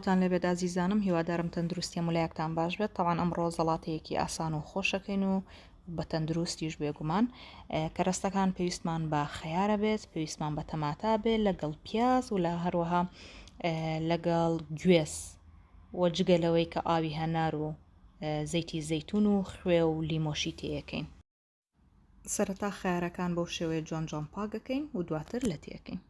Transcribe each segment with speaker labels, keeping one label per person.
Speaker 1: سڵاوتان لێبێت ئازیزانم هیوادارم تەندروستیە ملایەکتان باش بێت تاوان ئەمڕۆ زەڵاتەیەکی ئاسان و خۆشەکەین و بە تەندروستیش بێگومان کەرەستەکان پێویستمان بە خەیارە بێت پێویستمان بە تەماتا بێ لەگەڵ پیاز و لە هەروەها لەگەڵ گوێز وە جگە لەوەی کە ئاوی هەنار و زەیتی زەیتون و خوێ و لیمۆشی تێەکەین سەرەتا خارەکان بەو شێوەیە جۆن جۆن پاگەکەین و دواتر لە تێکەین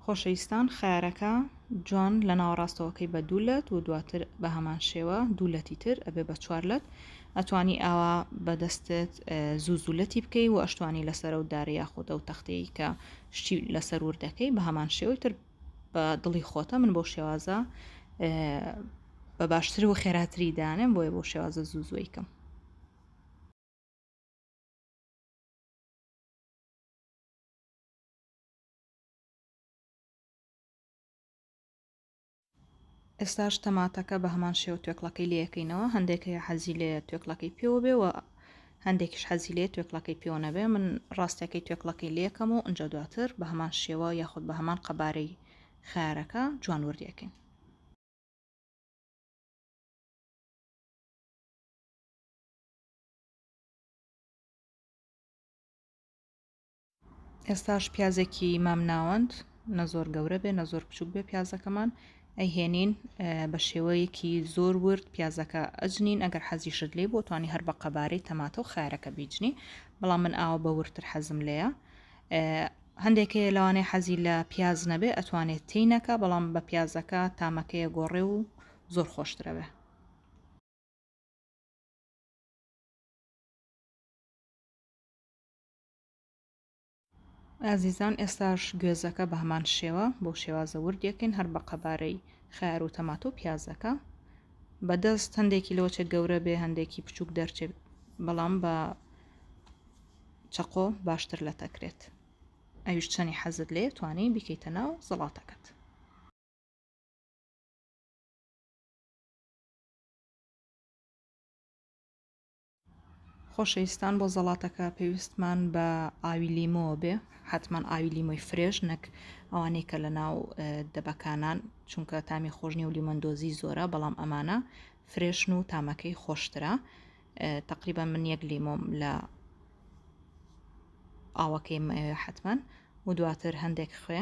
Speaker 1: خۆشەویستان خەیارەکە جوان لە ناوەڕاستەوەکەی بە دوو لەت و دواتر بە هەمان شێوە دوو لەتی تر ئەبێ بە چوار لەت ئەتوانی ئاوا بەدەستت زوو زوولەتی بکەی و ئەشتوانی لەسەر و دارە یاخود ئەو تەختەیە کە شتی لەسەر وردەکەی بە هەمان شێوەی تر بە دڵی خۆتە من بۆ شێوازە بە باشتر و خێراتری دانم بۆیە بۆ شێوازە زوو زۆیکەم ئێستاش تەماتەکە بە هەمان شێوە توێکڵەکەی لەکەینەوە هەندێک هەیە حەزی لێ توێکڵەکەی پێوە بێ و هەندێکیش حەزی لێ توێکڵەکەی پێوە نەبێ من ڕاستەکەی توێکڵەکەی لەکەم و ئەجا دواتر بە هەمان شێوە یاخود بە هەمان قەبارەی خارەکە جوان وردیەکەین ئێستاش پیازێکی مام ناوەند نە زۆر گەورە بێ نە زۆر بچوک بێ پیازەکەمان ئەیهێنین بە شێوەیەکی زۆر ورد پیازەکە ئەجنین ئەگەر حەزیشت لێ بۆتوانی هەر بە قەبارەی تەماتە و خارەکە بیجنی بەڵام من ئاوە بە ورتر حەزم لێە هەندێکەیە لەوانەیە حەزی لە پیاز نەبێ ئەتوانێت تینەکە بەڵام بە پیازەکە تامەکەیە گۆڕێ و زۆر خۆشترەوێ ئازیزان ئێستاش گوێزەکە بە هەمان شێوە بۆ شێوازە وردێکن هەر بە قەبارەی خیار و تەماتە و پیازەکە بەدەست هەندێکی لۆچە گەورە بێ هەندێکی بچووک دەرچێت بەڵام بە چەقۆ باشتر لە تەکرێت ئەویش چەنی حەزت لێ توانی بیکەیتە ناو زەڵاتەکەت خۆشەویستان بۆ زەڵاتەکە پێویستمان بە ئاوی لیمۆوە بێ حتمما ئاوی لیمۆی فرێش نەک ئەوانەی کە لە ناو دەبەکانان چونکە تامی خۆشنی و لیمەندۆزی زۆرە بەڵام ئەمانە فرێشن و تامەکەی خۆشترە تقریبا من یەک لیمۆم لە ئاوەکەی حتمما و دواتر هەندێک خوێ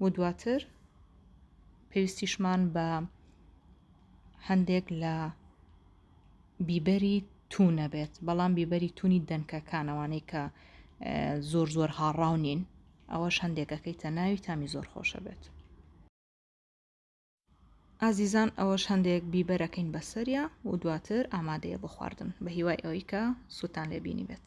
Speaker 1: و دواتر پێویستیشمان بە هەندێک لە بیبەری تونە بێت بەڵام بیبەری تونی دەنکەکانەوانەی کە زۆر زۆر هاڕاو نین ئەوەش هەندێکەکەی تە ناوی تامی زۆر خۆشە بێت ئازیزان ئەوەش هەندێک بیبەرەکەین بەسەریا و دواتر ئامادەیە بۆ خواردن بە هیوای ئەوەی کە سووتان لێبینی بێت